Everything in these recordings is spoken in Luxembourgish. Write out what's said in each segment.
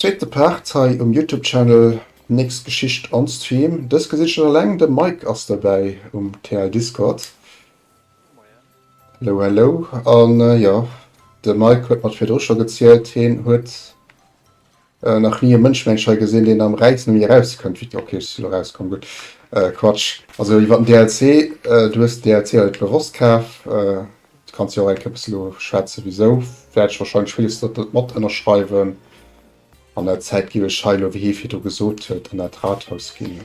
Zweete Part hei um Youtube Channel Nächst Geschicht on Stream. Dës gesitt schonn eleng, de Mike ass dobäi um TI Discord. Hello hello an jo de Mike huet mer et virdru scho gezielt, hien huet. Nach nie e Mënschmengscher gesinn deen am Räizen mi eraus kënnt wéi d'Ok. Yes, lo raus komm, gutt Quatsch. Also iwwert den DLC, du hues den DLC jo net bewosst kaf, du kanns jo och eng Kéier bëssen elo schwätzen wisou, wäert ech wahrscheinlech villes do net mat ënnerschreiwen. An der Zäit giff ech hei elo wéi hie virdru gesot huet an dat Rathaus ginn.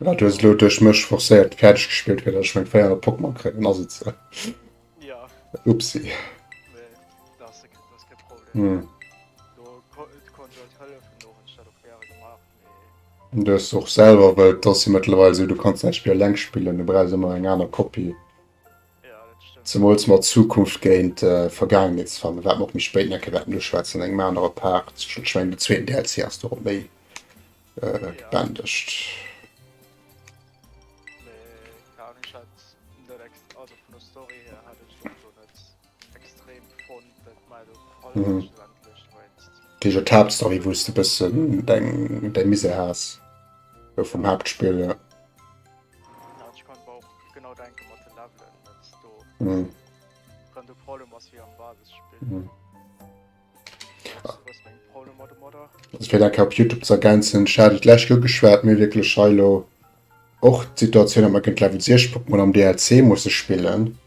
Ja, du hast lo durch mich forcéiert fertig gespielt, weil ich mein 400 Pokémon kriegen, also jetzt. Äh. Ja. Upsi. Nee, das ist, das ist kein Problem. Hm. Du konntest halt helfen, du hast das auch gerne gemacht. Nee. Du hast auch selber, weil das hier mittlerweile so, du kannst das Spiel lang spielen, du brauchst immer eine andere Kopie. Zemools mat Zukunft géint Vergaangenheet ze fannen, wat mer och méi spéit nach e kéier wäerten uschwätzen an engem anere Part. Ech mengen, den zweeten DLC ass do och méi gebändegt. Fir mech ass d'Haaptstory, wou s de e bëssen deng Misär has vum Haaptspill. Fir dat ka op Youtube ze ergänzen, ech hat et lech ugeschwat, mir wierklech hei lo och d'Situatioun, datt mer géint Level 6 Pokémon am DLC musse spillen.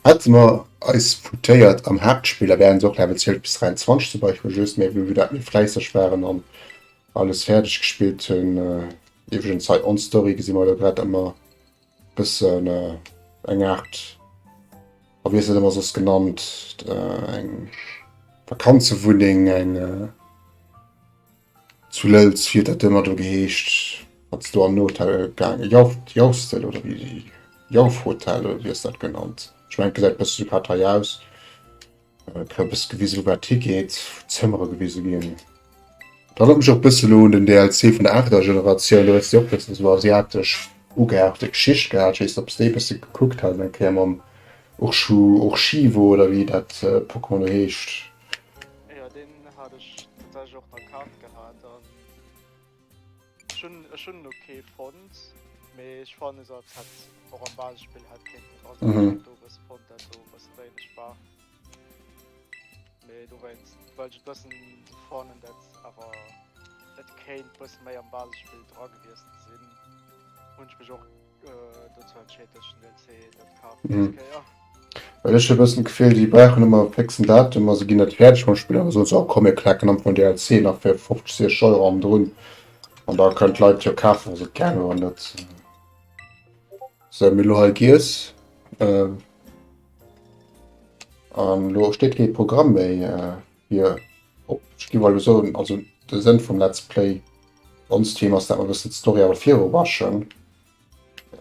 Hätte mer eis foutéiert am Haaptspill, da wäre se och Level 12 bis 23 dobäi vu just, mä wéi mer dat méi fläisseg waren an. alles fäerdeg gespillt hunn. Iwwregens hei on Story gesi mer elo grad ëmmer bëssen eng Aart, a wéi ass dat ëmmer soss genannt, eng Vakanzewunneng, eng zu Lëlz, wéi huet dat ëmmer do geheescht, wat se do an den Hotel gaange, Jauchstel oder wéi, Jauchhotel oder wéi ass dat genannt? Ech mengen, gesäit bësse sou grad hei aus. Këppes gewisel war Ticket, Zëmmere gewise ginn. Da rëm mech och bësse lo un den DLC vun der aachter Generatioun, do hues de och bëssen esou asiatesch ugehauchte Geschicht gehat. Ech weess net, ob s de e bësse gekuckt hat, eng Kéier mam Urshu, Urshiwo oder wéi dat Pokémon do heescht. Ech hunn ech hunn elo kee fonnt, mee ech fannen se als hätt och am Basisspill hätt kéinten dra sinn. Mhm. Do hues de fonnt, dat do e bësse wéineg war. Mee dowéinst well ech et bëssen sou fannen, dat awer et kéint bësse méi am Basisspill dra gewiesst sinn, hunn ech mech och. Well ech e bëssen d'Gefill, déi brauchen ëmmer e fëxen Datum a se ginn net fäerdeg mam Spill, an da soen se, oh komm mir klaken am Fong DLC nach fir 50, 60 Euro am drun an da kënnen d'Leit jo kafen, wa se et gären hunn. Dat si mir lo hei giess. An lo steet kee Programm méi. fir op Skiwwer lo soen, also de Sënn vum Let's Play on Stream ass, dat mer e bëssen d'Story awer viru raschen.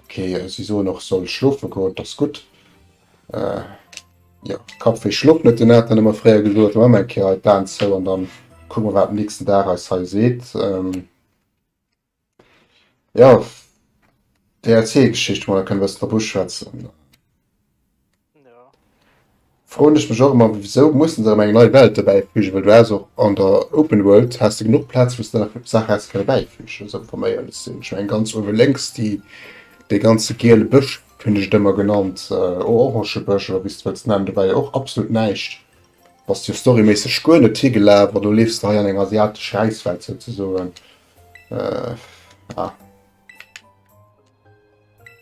Ok, si soen och soll schlofe goen, dat ass gutt. Äh, jo, Kappwéi schlooft net, deen hat dann ëmmer fréier gesot. Hu mer eng Kéier hei d'Aen zou an dann kucke mer, wat den nächsten Dag eis hei seet. Ähm, Jo, DLC-Geschicht mol kënne bëssen drop uschwätzen. Ja. Froen ech mech och ëmmer, wisou mussen se erëm eng nei Welt dobäifügen, well du has och an der Open World has de genuch Plaz, wou s de nach Saache häss kënne bäifügen, esou wa mer éierlech sinn. Ech mengen ganz uewe lénks déi, dee ganze giele Bësch hunn ech et ëmmer genannt, Orangebësch oder wéi s de wëlls nennen, do war jo och absolut näischt, bass jo storyméisseg guer net higelaf, an elo leefs de hei an eng asiatesch Räiswelt souzesoen. Äh, ah.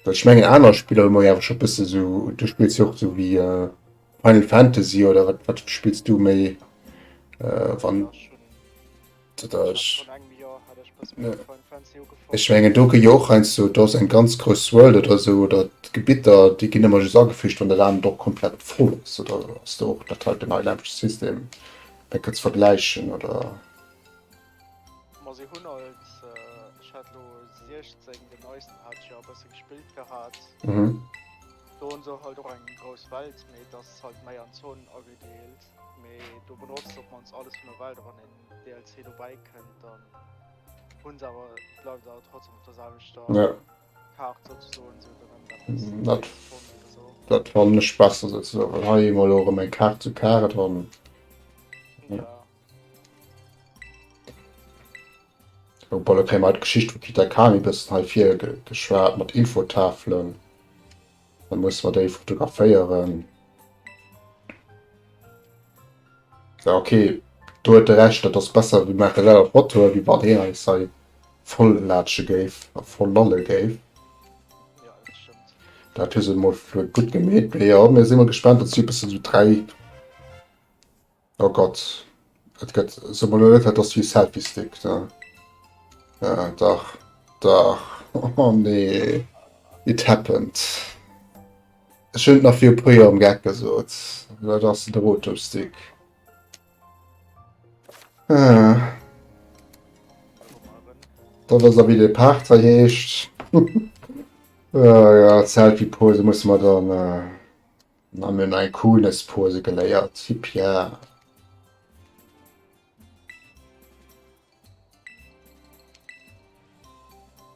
Dat schmengen aner Spieler mo ja schon bist so du spielst auch so wie äh, Final Fantasy oder wat wat spielst du méi äh, wann Ech menge do ge Joch ein so dats eng ganz gross World oder so oder Gebitter déi ginn immer just ageficht an der Land doch komplett voll ass oder ass do och dat halt den Highland System dat gëtt vergläichen oder. Ma se hunn alt, ech hat lo 16, den neisten hat ech jo e bësse gespillt gehat. Mhm. Do hunn se halt och eng grouss Welt, mee et ass halt méi an Zonen agedeelt. Mee do benotzt op mannst alles vun der Welt a wann en DLC dobäi kënnt, dann hunn se awer, bleift et awer trotzdem op der selwechter Ja, Kaart souzesoen, sou dann ëmmer eppes mhm, dat, 30 Zonen oder sou. dat fannen ech besser souzesoen, well hei hu mer elo erëm eng Kaart zu Carrot an. Ja. Elo Paul, da kréie mer haut d'Geschicht vu Peter Kami bëssen hei virgeschwat mat Infotafelen. Da musse mer déi fotograféieren. Ja, okay, do huet e recht, dat ass besser, mir maache selwer Fotoe, wéi wann hien eis hei voll laatsche géif a voll lalle géif. Dat hu se emol gutt gemeet. Mee jo, mir si mol gespaant, dat si e bëssen esou dräi Oh Gott, et gëtt se mol net, dat ass wéi Selfie Stick ne? Ja dach, dach, oh nee, it happened. Ech hunn et nach vir e puer Joer am Gag gesot, dat ass de Rotom Stick. Ah. Dat ass a wéi de Parter heescht. Ah ja, Selfie Pose musse mer dann. Mir hunn nei Coolness-Pose geléiert, Yipp yeah!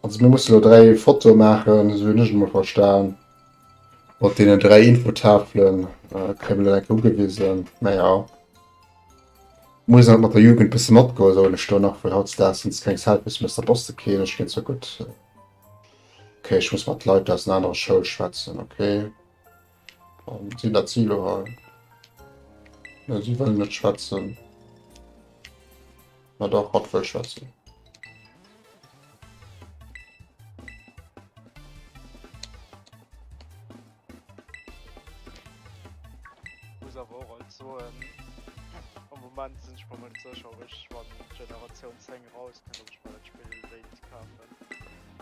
Also mir musse lo 3 Fotoe maachen, esou hunn ech et emol verstan. Mat deenen 3 Infotafelen kréie mir dat enke ugewisen. Mä jo, muss halt mat der Jugend bësse matgoen, soen ech do nach, well hautdesdaags sinn se keng Selfies méi aus der Post. Ok, ech ginn zur Gutt. Ok, ech muss mat Leit aus den anere Schoule schwätzen, ok. Si dat si lo hei? Nee, si wëllen net schwätzen. Ma dach, hatt wëll schwätzen.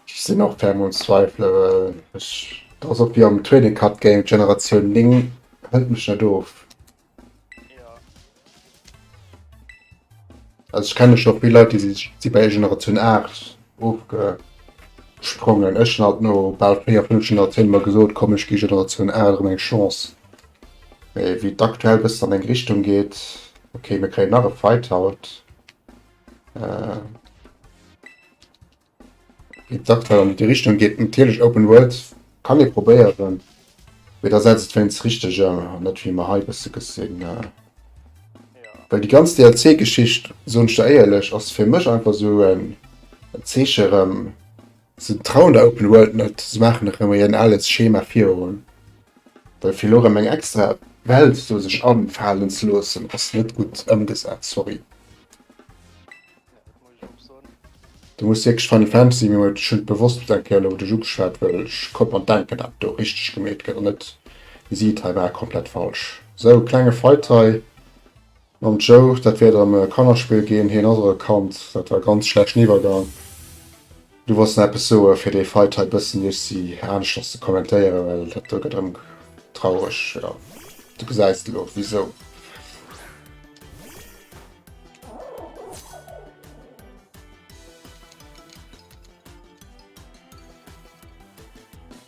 Ech sinn och ferm um Zweifele. Ech, dat ass och wéi am Trading Card Game, d'Generatioun 9 hëlt mech net of. Also ech kenne scho vill Leit, déi si bei Generatioun 8 ofgesprongen. Ech hunn alt no bal 4, 5 Generatioune mol gesot, komm ech gi Generatioun 8 erëm eng Chance. Mee wéi et aktuell e bëssen an eng Richtung geet, okay mir kréien nach e Fight haut. D'aktuell an déi Richtung geet natierlech Open World kann ee probéieren, mee da setzt et wéinst des Richteger an net wéi mer hei e bësse gesinn. Well déi ganz DLC-Geschicht, soen ech der éierlech, ass fir mech einfach esou en Zeeche erëm, se trauen der Open World net, se maachen erëm méi en ales Schema virun, well fir elo erëm eng extra Welt esou sech afalen ze loossen ass net gutt ëmgesat, sorry. Du muss wierklech Final Fantasy mir huet ech hun bewosst eng Kéier lo duerch ugeschwat well ech koum an denken dat do richteg gemeet gëtt an net wéi si et hei war komplett falsch. Sou klenge Fight hei mam Joe dat wäert erem e Kannerspill ginn hien ass och e Kand dat war ganz schlechten Iwwergang. Du wolls nach eppes soe fir dee Fight hei bëssen Jussi aneschters ze kommentéieren, well dat do gëtt erëm traureg, jo du gesäis elo wisou.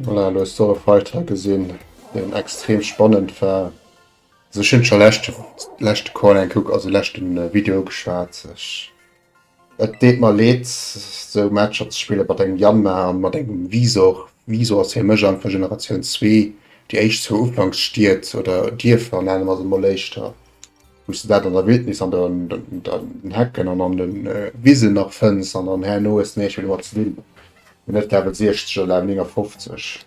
Voilà, du hast so Fighter gesinn, den extrem spannend war. Also ech hunn scho leschte leschte Call eng kuck, also leschte Video geschwat. Ech et deet mer leed sou Matcher ze spille mat engem Yanma an mat engem Wisor. Wisor ass fir mech einfach Generatioun zwee, déi éischt zwou Ufanksstied oder Dierfer nennen mer se mol éischter, wou s de dat an der Wildnis an den den Hecken an an den Wisen nach fënns an dann herno hues de näischt méi domat ze dinn, net Level 60 oder Level 59.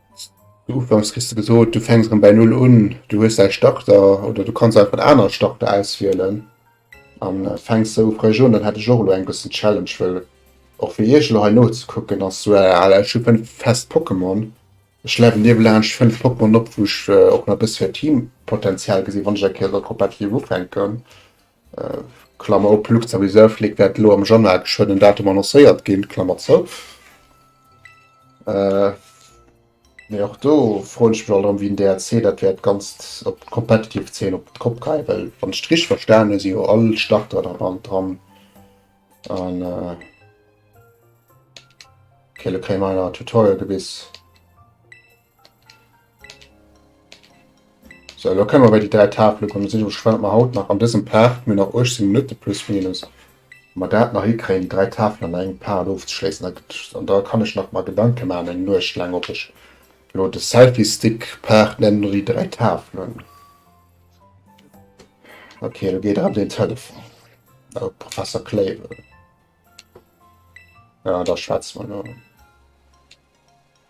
Du ufanks kriss du gesot, du fänks rem bäi null un, du hues däi Starter oder du kanns einfach en anere Starter auswielen an fänks sou frësch un. Dann hätt ech och elo eng bëssen Challenge, well och fir iech elo hei nozekucken ass sou al, ech hu 5 fest Pokémon, ech levelen iwwelaanscht 5 Pokémon op, wou ech och nach e bësse Teampotenzial gesinn, wann ech eng Kéier elo competitive ufänken. Klammer op, Luxor Reserve League wäert elo am Januar e schönen Datum annoncéiert ginn, Klammer zou. Äh, mee och do froen ech mech alt erëm, wéi den DRC dat wäert d'Ganzt op d'competitive Zeen op d'Kopp kreien, well wann ech et richteg verstanen hu si jo all Starter da bal dran an äh, okay, elo kréie mer awer Tutorial gewis. So, lo kënne mer bei déi dräi Tafele kommen. Dann seet ech iech gespannt, ob mer haut nach an dësem Part, mir hunn nach 18 Minutte plus minus, ob mer dat nach hikréien, déi dräi Tafelen an engem Part ofzeschléissen. Da gëtt, an da kann ech nach mer Gedanke maachen, eng Nuecht laang, ob ech lo de Selfie-Stick-Part nennen oder déi dräi Tafelen. Okay, do geet erëm den Telefon. Oh, Professor Clavel. Ja, da schwätze mer lo.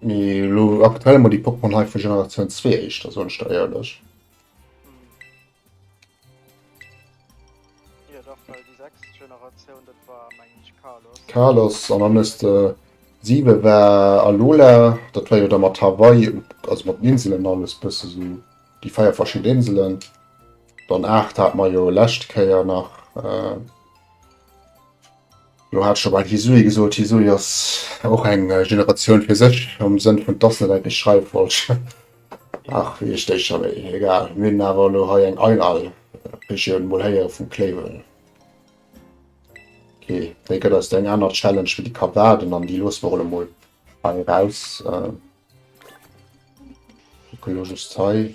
Mee lo aktuell mol déi Pokémon hei vu Generatioun 2 éischter, soen ech der éierlech. Hier dach well déi sechst Generatioun, dat war meng ech Kalos. Kalos an dann hues de 7 war Alola, dat war jo da mat Hawaii, also mat den Inselen alles bësse sou, déi feier verschidde Inselen. Dann 8 hat mer jo lescht Kéier nach. Do hat ech scho bei Hisui gesot, Hisui ass och eng Generatioun fir sech, am Sënn vun, dass net eng déi schreiwe wollt. Ach, wéi heescht déi scho méi? Egal, mir hunn awer elo hei eng Einhal Regioun mol héiere vum Clavel. Okay, déi gëtt eis dann eng aner Challenge wéi déi Kabaden an déi loosse mer elo mol hei eraus. Kucke elo just hei.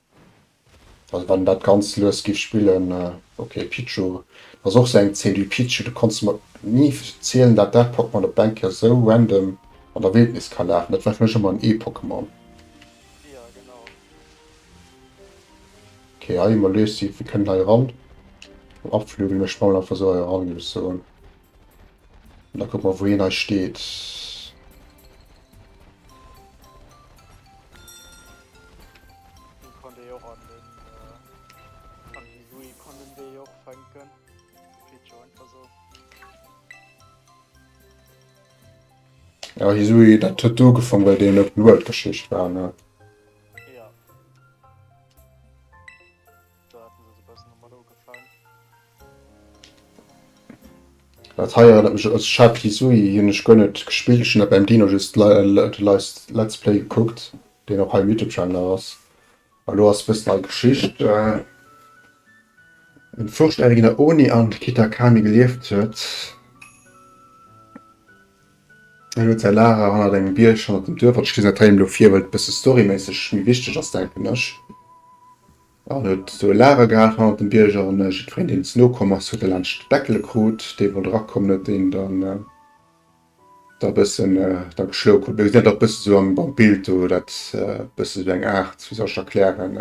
Also wann dat ganz lues giff spillen. Ok Pichu, dat ass och sou eng Zed, ui Pichu du konns mer ni verzielen dat dat Pokémon op Enker sou random an der Wildnis ka lafen, dat war fir mech ëmmer en E-Pokémon. Ok hei hu mer Lucy, mir kënnen hei eran mam Abflügel, ech schwammen einfach sou hei eran giff ech soen. An da kuck mer wou hien hei steet. Ja Hisui, dat huet do gefangen, well deen Open World Geschicht war, ne? Dat hei erënnert mech un Sha Kizui, hien hunn ech guer net gespillt, ech hunn dat beim Dino just Let's Play gekuckt, deen och hei um Youtube Channel nach ass. An elo ass e bëssen hei Geschicht, en fuerscht Äre ginn der Oni an d'Kitakami gelieft huet, en huet säi Lager hannert engem Bierg hannert dem Duerf, an ech liesen dat hei elo vir well et e bësse storyméisseg méi wichteg ass denken ech. En huet sou e Lager gehat hannert dem Bierger an jiddwereen deen ze no komm ass huet e laanscht d'Bäckele krut. Dee wollt erakommen huet deen dann da bëssen da geschloe krut. Mir gesinn dat och bësse sou am Bild do, dat bësse sou eng Aart, wéi soll ech erklären,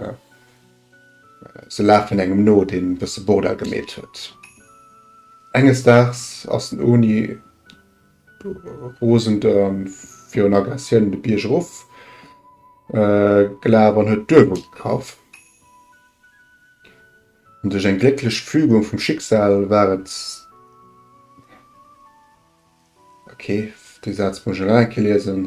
se lafen engem no deen e bësse Bordell gemeet huet. Enges Daags ass den Oni Rosend an virun Aggressioun de Bierg erof gelaf an huet d'Uewe kaff. An duerch eng glécklech Fügung vum Schicksal war et, ok, dee Saz muss ech nach eng Kéier liesen,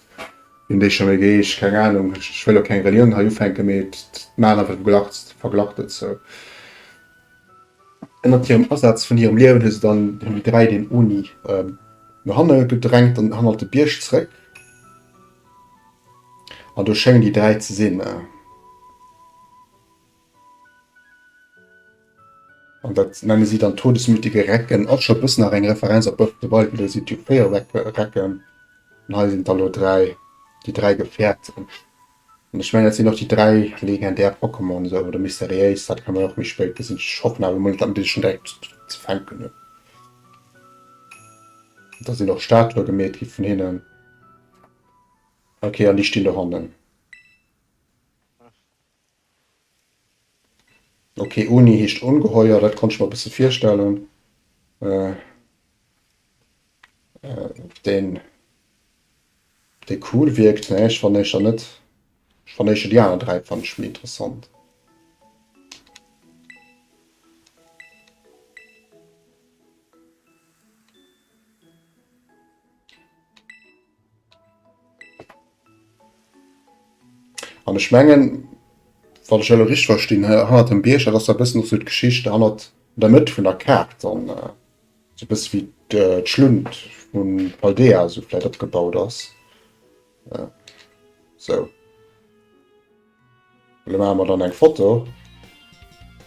Hun déi schon geheescht? Keng Ahnung, ech wëll och keng Relioun hei ufänken, mee et maan einfach glaczt, verglackt et sou. Ënnert hirem Asaz vun hirem Liewen hu se dann déi dräi den Oni no hanne gedrängt an hannert de Bierg zréck, an do schéngen déi dräi ze sin. An dat nenne si dann todesmütige Recken. Ass scho bëssen nach eng Referenz op Birth of the Wild, well do sinn et jo 4 Recken. An hei sinn der elo 3, déi 3 Gefährten. An ech mengen dat sinn och déi 3 legendär Pokémon esou, oder mysteriéis, dat kann dann och méi spéit gesinn. Ech hoffen awer mol, datt ech schon direkt ze fänken hunn. Da sinn och Statue gemeet gi vun hinnen. Ok, an déi stinn dohannen. Ok, Uni heescht ongeheuer, dat konnt ech mer e bësse virstellen. Deen dee cool wierkt, ne ech fanne eischer net. Ech fanne eischer déi aner dräi fanne ech méi interessant. An ech mengen, wann ech elo richteg verstinn, hannert dem Bierg, dat ass da e bëssen och sou d'Geschicht hannert der Mëtt vun der Kaart dann, sou e bësse wéi d'Schlunt vu Paldea esou vläit opgebaut ass, sou. Lo maache mer dann eng Foto.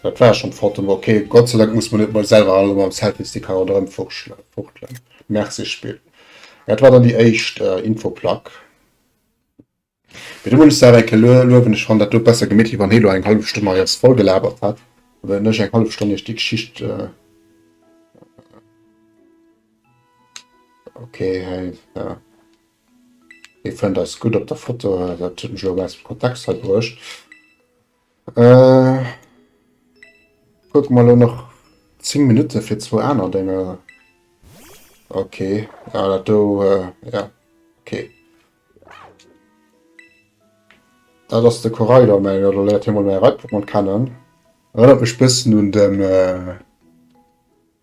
Dat war schonn d'Foto, ma ok. Gott sei Dank muss mer net mol selwer all mam Selfiestick hei ronderëm fuchtelen. Merci Spill. Jo, dat war dann déi éischt Infoplack. Mee do muss ech se awer eng Kéier luewen, ech fannen dat do besser gemittlech, wéi wann hee lo eng hallef Stonn mei eis vollgelabert hätt, wéinst ech eng hallef Stonn iech déi Geschicht. Ok hei, jo. Dir fënnt eis gutt op der Foto, dat hunn ech elo aus dem Kontext hei bruecht. Kucke mer elo nach 10 Minutte fir zwou aner Dénger. Ok, ah dat do, ja ok. Dat ass de Koraidon, mä elo léiert hie mol mäi Reitpokémon kennen. Erënnert mech bëssen un den.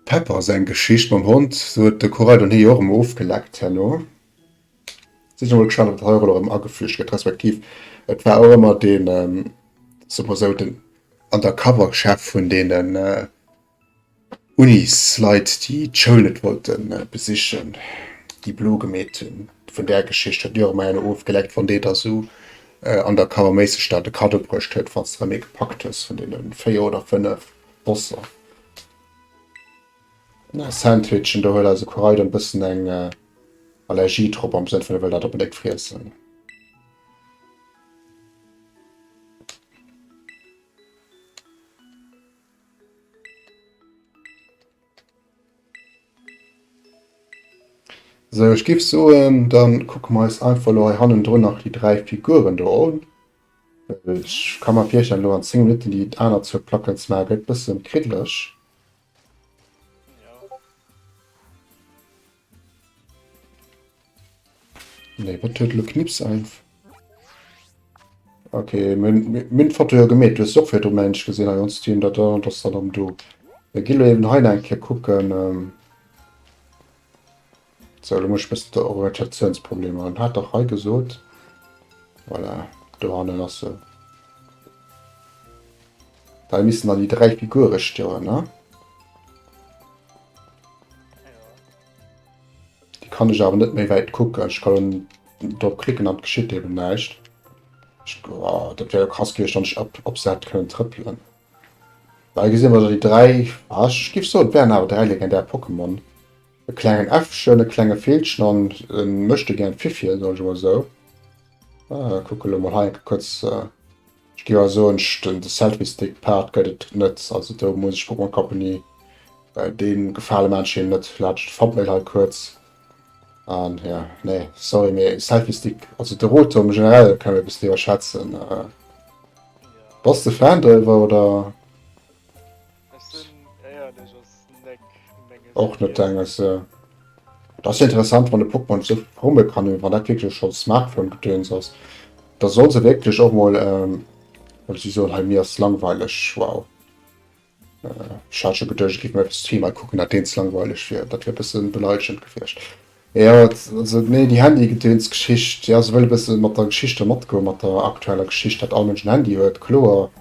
Pepper seng Geschicht mam Hond, sou huet de Corail den Hee jo och emol ofgeleckt herno. Sinn ech emol gespannt, wat hei och elo erëm ageflücht gëtt, respektiv et war och ëmmer dee, soe mer esou, den Undercover-Chef vun deenen Unis-Leit, déi d'Schoul net wollte besichen, déi blo gemeet hunn. Vun där Geschicht huet mir och ëmmer een ofgeleckt, wann dee da sou undercover-méisseg da de Kaddo bruecht huet, falls de erëm ee gepackt hues vun deene véier oder fënnef Bosser. Sandwichen, do huet eise Koraidon e bëssen eng Allergie drop, am Sënn vun e wëll dat onbedéngt friessen. Sou, ech géif soen, da kucke mer eis einfach elo hei hannendrun nach déi dräi Figuren do un. Ech ka mer virstellen elo an 10 Minutten déi aner zwou Placken ze maachen gëtt bëssen kriddeleg. Nee wat huet elo Knips einf. Ok mir hunn mir hunn d'Foto jo gemeet, du hues se och virdru mengen ech gesinn hei on Stream dat der an ass der dann do. Mir gi lo eben hei nach eng Kéier kucken. Sou, elo muss ech bëssen d'Orientatiounsproblemer hunn. Hat dach hei gesot. Voilà, do hannen ass se. Hei missten dann déi dräi Figure stoen, ne? Déi kann ech awer net méi wäit kucken. Ech ka dann drop klicken an et geschitt eben näischt. Ech, oh, dat wär jo krass gewiescht, wann ech op, op se hätt kënnen trëppelen. Hei gesi mer dann déi dräi, ah, ech géif soen, et wären awer dräi legendär Pokémon. E klengen Äffchen, e klenge Villchen an e Möchtegern-Fiffi, soen ech emol esou. Äh, kucke elo mol hei enke kuerz. Ech géif awer soen, den de Selfie-Stick-Part gëtt et net. Also do muss ech Pokémon Company dee Gefale maachen, ech hien net vlächcht Thumbnail hei kuerz. An jo, nee, sorry, mee Selfie-Stick, also de Rotom generell kann ech e bëssen iwwerschätzen. Bass de Fan doriwwer oder? Och net denges se. Dat ass interessant, wann de Pokémon sou verfromme kann hunn, wann dat wierklech schonn Smartphone-Gedöns ass, da soll se wierklech och mol ähm, well si soen hei, mir ass langweileg, wow. Ech hat scho geduecht, ech géif mer eppes zweimal kucken, dat deens langweileg wier. Dat wier e bësse beleilegend gewiescht. Jo, also nee, déi Handygedönsgeschicht, jo, se wëll e bësse mat der Geschicht do matgoen, mat der aktueller Geschicht, datt all Mënsch en Handy huet, kloer.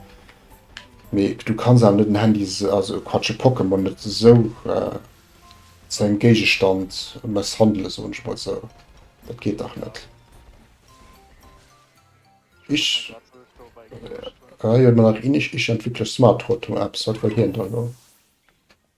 Mee du kanns awer net en Handy, also Quatsch, e Pokémon net esou zu engem Géigestand mësshandelen, soen ech mol esou. Dat geet dach net. Ich, ah jo, mat nach Ich-Entwickler-Smart-Rotor-Apps, wat wëll hien do elo?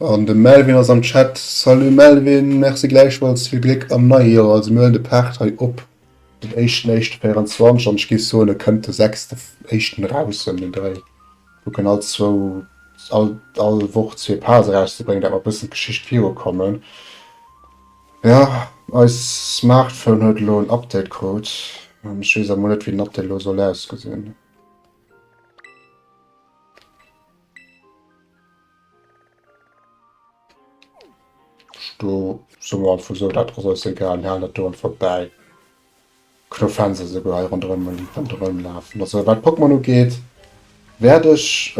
An de Melvin ass am Chat. Salut Melvin, Merci gläichfalls, vill Gléck am neie Joer. Also mir huelen de Paart hei op den éischten éischte 24 an ech géif soen e kënnt de sechste éischten raus ëm den Dréi. Kucken all zwou all all Woch zwee Parts erauszebréngen dat mer e bëssen d'Geschicht viru kommen. Jo eis Smartphone huet elo en Update krut an ech weess emol net wéi den Update elo soll ausgesinn. Do soe mer einfach esou, dat ass eis egal, mir halen dat do einfach bäi. Kënn och Fans esouguer hei ronderëm ronderëm lafen. Also wat Pokémon ugeet, wäert ech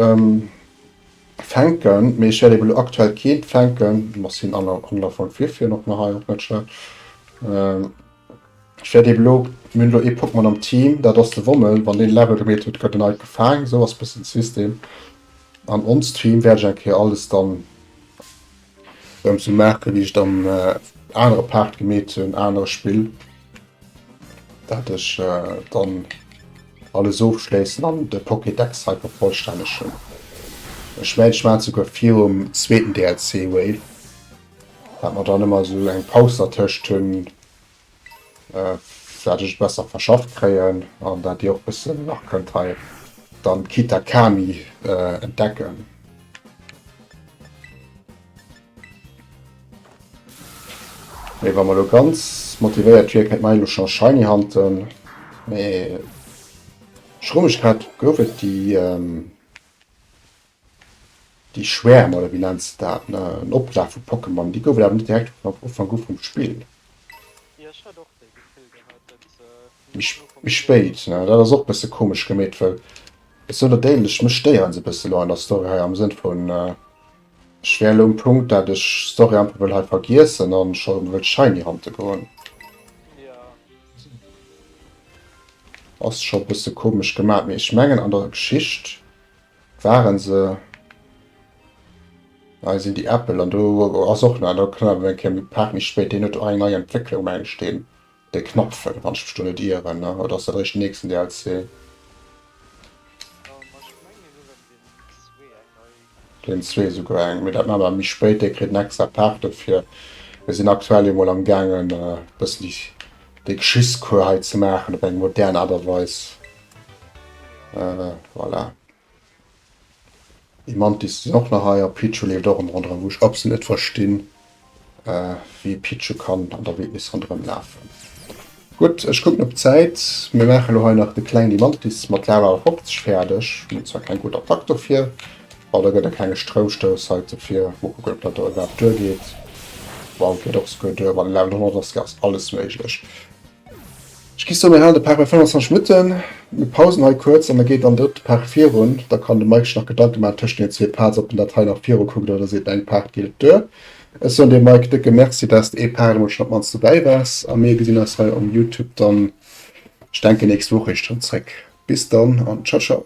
fänken, mee ech wäert eben elo aktuell keent fänken. Merci un Anlaufang Fifi, en och nach hei op Matcher. Ech wäert eben elo, mir hunn elo ee Pokémon am Team, dat ass de Wommel, wann deen Level gemeet huet, gëtt en neit gefaang, esou ass e bëssen de System. An onst Team wäert ech eng Kéier alles dann erëm esou maachen, wéi ech et am anere Part gemeet hunn, anere Spill, dat ech dann alles ofschléissen an de Pokédex hei vervollstännegen. Ech mengen, ech maachen et souguer virum zweeten DLC Wave. Wat mer dann ëmmer esou eng Paus dertëscht hunn, dat ech et besser verschafft kréien an dat Dir och bëssen nach kënnt hei dann d'Kita Kami entdecken. Mee wa mer elo ganz motivéiert wier, kéint mer hei elo scho Shiny hunten. Mee Schrumegkeet, gouf et déi? Déi Schwäerm, oder wéi nennt se dat, en Oplaf vu Pokémon, déi goufen awer net direkt vun Ufank u vum Spill. Méi spéit. Dat ass och e bësse komesch gemeet, well ech soen dat éierlech, mech stéieren se e bësse elo an der Story hei, am Sënn vun, ech wär elo um Punkt, dat ech d'Story einfach wëll hei vergiessen a scho wëll Shiny hante goen. Ass scho e bësse komesch gemat, mee ech mengen an der Geschicht Waren se. Hei sinn déi Äppel an do ass och nach do kënne mer eng Kéier Paart méi spéit. Deen huet och eng nei Entwécklung mengen ech deen de Knapfen, wann ech mech do net ieren, ne? Oder ass dat eréischt den nächsten DLC? Deen zwee esouguer eng, mee dat maache mer méi spéit. Dee kritt en extra Paart dofir. Mir sinn aktuell emol am gaangen e bëssen déi Geschichtscours hei ze maachen op eng modern Aart a Weis. Voilà. Déi Mantis sinn och nach hei a Pichu leeft och ëm ronderëm, wou ech absolut net verstinn, wéi ee Pichu kann an der Wildnis ronderëm lafen. Gutt, ech kucken op d'Zäit. Mir maache elo hei nach de Kleng déi Mantis mat Lava Awer 50 fäerdeg. Mir hunn zwar keng gutt Attack dofir, well da gëtt e klenge Stroumstouss hei dofir. Mol kucken, ob dat do iwwerhaapt duergeet. Wow, geet och esouguer duer. Mat en Level 100 ass alles méiglech. Ech gi soen, mir halen de Par bei 25 Minutten. Mir pausen hei kuerz an da geet dann drëtt Par virun. Da kann de Mike sech nach Gedanke maachen tëschent deenen zwee Pads, ob en dat hei nach virukuckt oder seet, eng Paart geet et duer. Ech soen dir, Mike, décke Merci, dass de ee Par eemol schonn op mannst dobäi waars a mir gesinn eis hei um Youtube dann, ech denken, nächst Woch eréischt erëm zréck. Bis dann an Ciao, ciao.